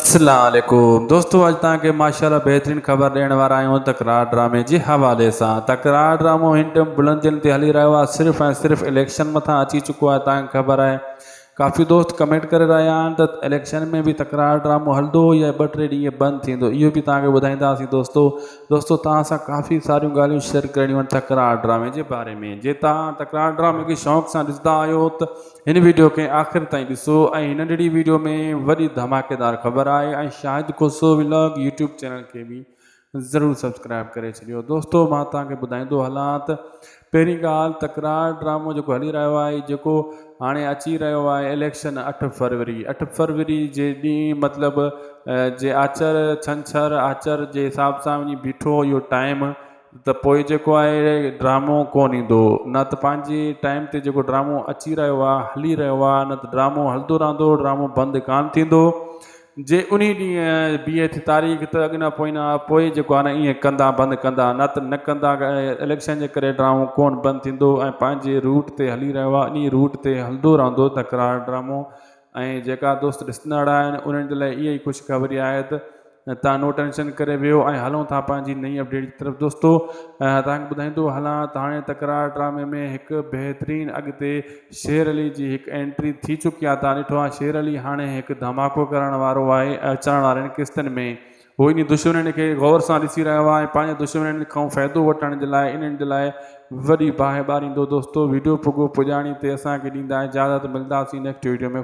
السلام عليڪم دوستو اڄ توهان کي ماشاء الله بهترين خبر ڏيڻ وارا آهيون تڪرار ڊرامي جي حوالي سان تڪرار ڊرامو هن ٽيم بلندين تي هلي رهيو آهي صرف ۽ صرف اليڪشن مٿان اچي چڪو آهي توهان کي خبر آهي ڪافي دوست ڪمينٽ ڪري رهيا آهن ته اليڪشن ۾ به تڪرار ڊرامو هلندو يا ٻه ٽي ڏينهن بند ٿيندو اهو به توهان کي ٻڌائينداسين دوستو دوستو توهان سان ڪافي ساريون ڳالهيون شيئر ڪرڻيون آهن تڪرار ڊرامي جي باري ۾ جي توهان تڪرار ڊرامي کي شوق سان ڏسندا آهيو ته هن ويڊيو کي آخر تائين ڏسو ۽ هن ننڍڙي ويڊيو ۾ وڏي ڌماڪيدار خبر آهي ۽ Shahid Khoso vlog YouTube channel کي به ضرور سبسڪرائيب ڪري ڇڏيو دوستو مان توهان کي ٻڌائيندو هلان ته پهرين ڳالهه تڪرار ڊرامو جيڪو هلي رهيو آهي جيڪو هاڻي اچي رهيو آهي اليڪشن اٺ فروري اٺ فروري جي ڏينهن مطلب جي آچر ڇنڇر آچر جي حساب سان وڃي بيٺو اهو ٽائيم ته پوء جيڪو آهي ڊرامو ڪونه ايندو نه ته پنهنجي ٽائيم تي جيڪو ڊرامو اچي رهيو آهي هلي رهيو آهي نه ته ڊرامو هلندو رهندو ڊرامو بند ڪانه ٿيندو جي انهي ڏينهن بيهي ٿي تاريخ ته اڳ نه پوئين پوء جيڪو آهي ايئن ڪندا بند ڪندا نه ته نه ڪندا اليڪشن جي ڪري ڊرامو ڪونه بند ٿيندو ۽ پنهنجي روٽ تي هلي رهيو آهي انهي روٽ تي هلندو رهندو تڪرار ڊرامو ۽ جيڪا دوست ڏسندڙ آهن انهن جي لاء اها ئي خوشخبري آهي ته توهان نو ٽينشن ڪري ويهو ۽ هلون ٿا پنهنجي نئين اپڊيٽ جي طرف دوستو توهان کي ٻڌائيندو هلان ته هاڻي تڪرار ڊرامي ۾ هڪ بهترين اڳتي شير علي جي هڪ انٽري ٿي چڪي آهي توهان ڏٺو آهي شير علي هاڻي هڪ ڌماڪو ڪرڻ وارو آهي اچڻ وارين قسطن ۾ هو انهن دشمنن کي غور سان ڏسي رهيو آهي ۽ پنهنجن دشمنن کان فائدو وٺڻ جي لاء انهن جي لاء وڏي باهه ٻاريندو دوستو ويڊيو پڳو پڄاڻي تي اسان کي ڏيندا اجازت ملداسين نيڪسٽ ويڊيو ۾.